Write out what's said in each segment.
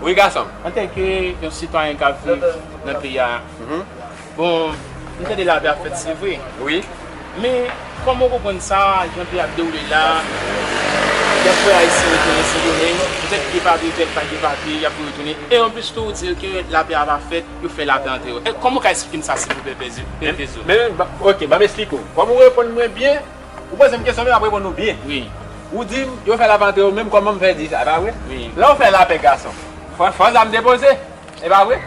Wi gason m. Antanke yon sitwayen kap viv nan peyi a, bon m tande lapè ap fèt se vre. Wi. Men kòman ou konprann sa jan peyi a ap dewoule la, yap voye ayisyen retounen sendomeng, petèt gen papye petèt pa gen papye yap voye retounen e anplis tou ou di ke lapè a pa fèt, yo fè lapè antre yo. Kòman ou ka esplike m sa silvouplè pè Vezo? Men ok banm esplike w, kòm ou reponn mwen byen. Ou poze m kesyon men m ap reponn ou byen. Ou di m yo fè lapè antre yo menm kòman m fè di sa e pa vre? Lè ou fè lapè gason fò zam depoze e pa vre?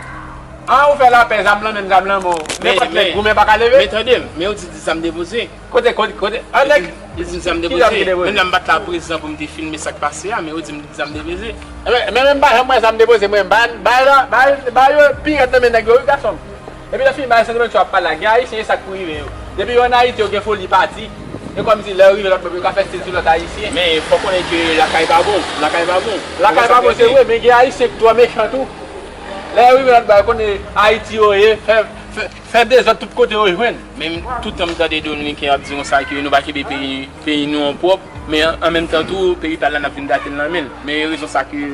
An ou fè lapè zam lan menm zam lan men w nenpòt nèg goumen pa ka leve? Men tande m men ou di zam depoze. Kote kote kote an nèg Li di m zam depoze menm lè m pa t la prezan pou m te filme sa k pase a men ou di m zam depoze. Ebyen men menm m pa janm wè zam depoze mwen m bay yo pi rèd nan men nèg yo wi gason m. Epi lè fini bagay santiman tjou ap pale la gen ayisyen e sak pou rive yo depi yo an ayiti yo gen foli pati e kòm si lè yo rive lòt bò yo ka fè stil sou lòt ayisyen. Men fòk konnen ke lakay pa bon, lakay pa bon. Lakay pa bon se vre men gen ayisyen ki twò mechan tou lè yo rive lòt bò yo konnen ayiti yo ye fè dezòd tout kote yo jwenn. Men tout tan m tande dominiken ap di konsa ke nou pa kenbe peyi nou an pwòp men an menm tan tou peyi pal la nap vin gatel nan menl men rezon sa ke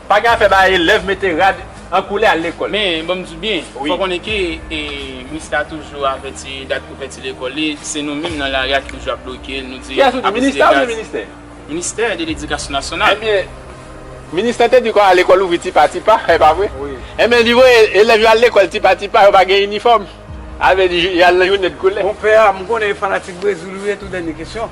Pa gen afè bay elèv mete rad an koulè al lekòl. Men, ban m di w byen, fò w konnen ke minis la toujou avèti dat pou fèti lekòl li, se nou menm nan lari a ki toujou ap bloke l, nou di a piti de gaz. Kiyès ou di, minis la oubyen ministè? Ministè de ledikasyon nasyonal. Enbyen, minis la te di kon a lekòl ouvri ti pa ti pa, e pa vre? Wi. Enbyen, li voye elèv yo al lekòl ti pa ti pa, yo pa gen inifòm. A vle di, y al nan jounen dkoulè. Bon pè a, m konnen fanatik Brezil ou ye tou dènye kesyon.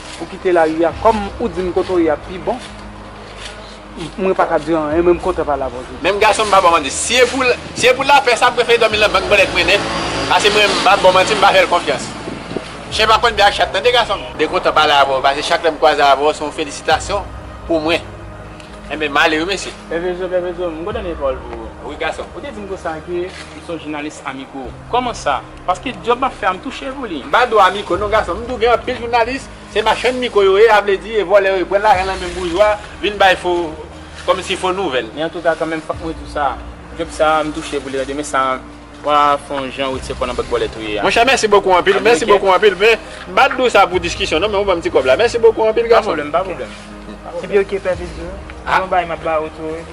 ou kite lari a kòm ou dim kote ou ye ap pi bon mwen paka diw anyen men m kontan pale avèw jodi. Menm gason m pa baw manti si e pou lapè sa m prefere dòmi nan bank bòlèt mwen nèt pase mwen m pa baw manti m pa fèl konfyans chen pa konn bi ak chat tande gason m. Mwen kontan pale avèw pase chak lèm kwaze avèw se yon felisitasyon pou mwen enben m ale wi mesye. Pèvezo pèvezo m kontan de pawòl pou ou. Wi gason. Ou te dim konsa ke ou se yon jounalis amigo kòman sa. Paske job map fè a m touche pou li. M pa dwa miko non gason m tou gen anpil jounalis se machann miko yo ye a vle di e vòlè yo ye pran lajan nan men boujwa vin bay fo kòm si fo nouvèl. Men antouka kanmenm fòk mwen di w sa job sa a m touche pou li tande men sa a pa fon jan wete kò nan bòt vòlè tou ye a. Monchè mèsi bokou anpil mèsi bokou anpil men m pa t di w sa pou diskisyon non men ou ban m ti kòb la mèsi bokou anpil gason m. Pa pwoblèm pa pwoblèm. Epi ok pè Petro se yon bagay map ba ou tou wi.